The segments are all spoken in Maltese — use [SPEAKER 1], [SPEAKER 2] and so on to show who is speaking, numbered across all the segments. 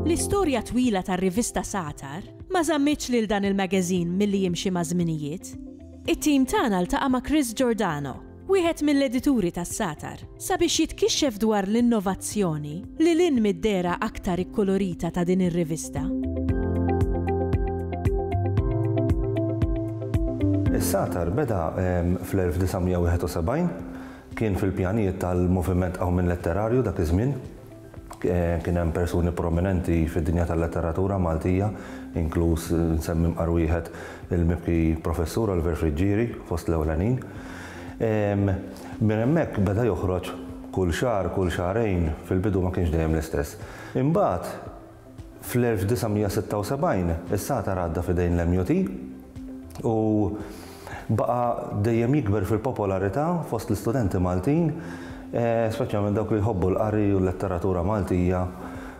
[SPEAKER 1] L-istorja twila tar-rivista Satar ma żammitx lil dan il-magazine milli jimxi maż-żminijiet. It-tim tagħna ltaqa' ma' Chris Giordano, wieħed mill-edituri tas-Satar, sabiex jitkixxef dwar l-innovazzjoni lil hinn mid-dehra aktar ikkulurita ta' din ir-rivista.
[SPEAKER 2] Is-Satar beda fl-1971, kien fil-pjanijiet tal-Moviment Qawmien Letterarju dak iż-żmien, Kien hemm persuni prominenti fid-dinja tal-letteratura Maltija, inkluż nsemmi mqar wieħed il-mibki Professur Oliver Friggieri fost l-ewlenin. Minn hemmhekk beda joħroġ kull xahar, kull xahrejn, fil-bidu ma kienx dejjem l-istess. Imbagħad, Fl-1976 is-satar għadda f'idejn l-MUT u baqa' dejjem jikber fil-popolarità fost l-istudenti Maltin, speċjalment dawk li jħobbu l-qari u l-letteratura Maltija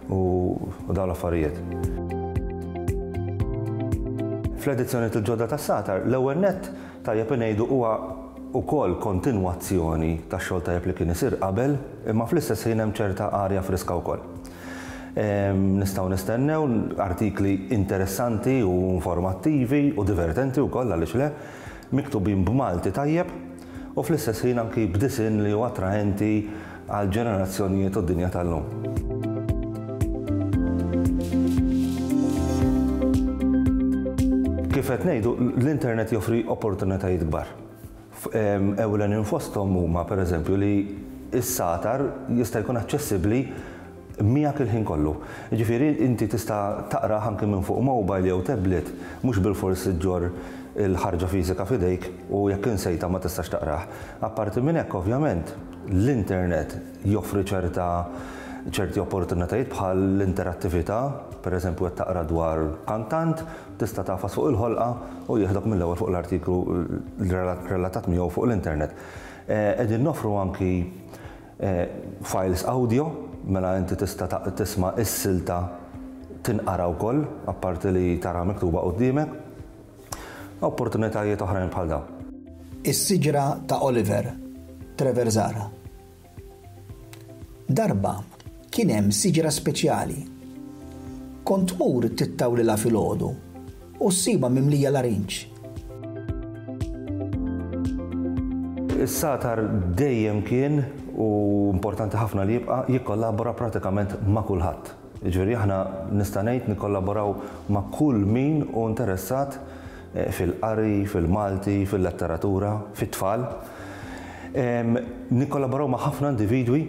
[SPEAKER 2] u dawn l-affarijiet. Fl-edizzjonijiet il-ġodda tas-satar, l-ewwel nett tajjeb ingħidu huwa wkoll kontinwazzjoni tax-xogħol tajjeb li kien isir qabel, imma fl-istess ħin hemm ċerta arja friska wkoll. Nistgħu nistennew artikli interessanti u informattivi u divertenti wkoll għaliex le, miktubin b'Malti tajjeb u fl-istess ħin anki b'disinn li hu attraenti għall-ġenerazzjonijiet u d-dinja tal-lum. Kif qed ngħidu, l-internet joffri opportunitajiet kbar. Ewlenin fosthom huma, pereżempju, li s-satar jista' jkun aċċessibbli miegħek il-ħin kollu. Jiġifieri inti tista' taqrah anki minn fuq mobile jew tablet, mhux bilfors iġġorr il-ħarġa fiżika f'idejk u jekk insejtha ma tistax taqrah. Apparti minn hekk, ovvjament, l-internet joffri ċerta ċerti opportunitajiet bħall-interattività, pereżempju qed taqra dwar kantant, Tista' tagħfas fuq il-ħolqa u jieħdok mill-ewwel fuq l-artiklu relatat miegħu fuq l-internet. Qegħdin noffru anki files awdjo, mela inti tista' tisma' s-silta tinqara wkoll, apparti li taraha miktuba quddiemek. Opportunitajiet oħrajn bħal dawn. Is-siġra
[SPEAKER 3] ta' Oliver, Trevor Zahra. Darba kien hemm siġra speċjali. Kont tmur tittawlilha filgħodu u ssibha mimlija larinġ.
[SPEAKER 2] Is-sagħtar dejjem kien, u importanti ħafna li jibqa', jikkollabora pratikament ma' kulħadd. Jiġifieri aħna nista' ngħid nikkollaboraw ma' kull min hu interessat fil-qari, fil-Malti, fil-letteratura, fit-tfal. Nikkollaboraw ma' ħafna individwi,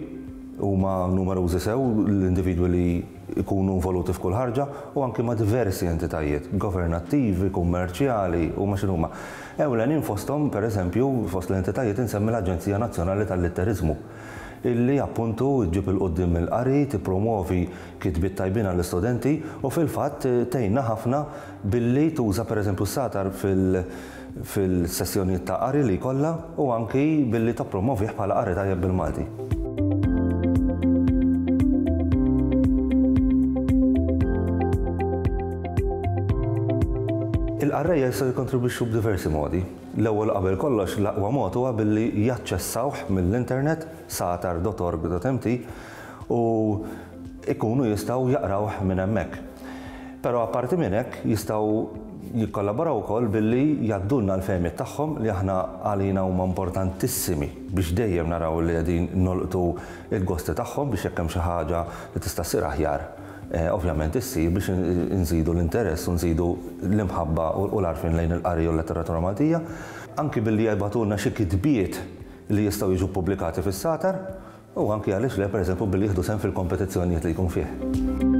[SPEAKER 2] huma numerużi sew l-individwi li jkunu involuti f'kull ħarġa, u anki ma' diversi entitajiet, governattivi, kummerċjali, huma x'inhuma. Ewlenin fosthom, pereżempju, fost l-entitajiet insemmi l-Aġenzija Nazzjonali tal-Litteriżmu. illi appuntu ġġib 'il quddiem il-qari, tippromwovi kitbiet tajbin għall-istudenti u fil-fatt tgħinna ħafna billi tuża pereżempju s-satar fil-sessjonijiet ta' qari li jkollha u anki billi tappromwovih bħala qari tajjeb bil-Malti. Il-qarrejja jistgħu jikkontribwixxu b'diversi modi. L-ewwel qabel kollox l-aqwa mod huwa billi jaċċessawh mill-internet, satar dot org dot mt, u jkunu jistgħu jaqrawh minn hemmhekk. Però apparti minn hekk jistgħu jikkollaboraw ukoll billi jgħaddulna l-fehmiet tagħhom li aħna għalina huma importantissimi biex dejjem naraw li qegħdin nolqtu l-gosti tagħhom biex jekk hemm xi ħaġa li tista' ssir aħjar, ovvjament issir biex inżidu l-interess u nżidu l-imħabba u l-għarfien lejn il-qari u l-letteratura Maltija, anki billi jibgħatulna xi kitbiet li jistgħu jiġu ppubblikati fis-Satar, u anki għaliex le, pereżempju, billi jieħdu sehem fil-kompetizzjonijiet li jkun fih.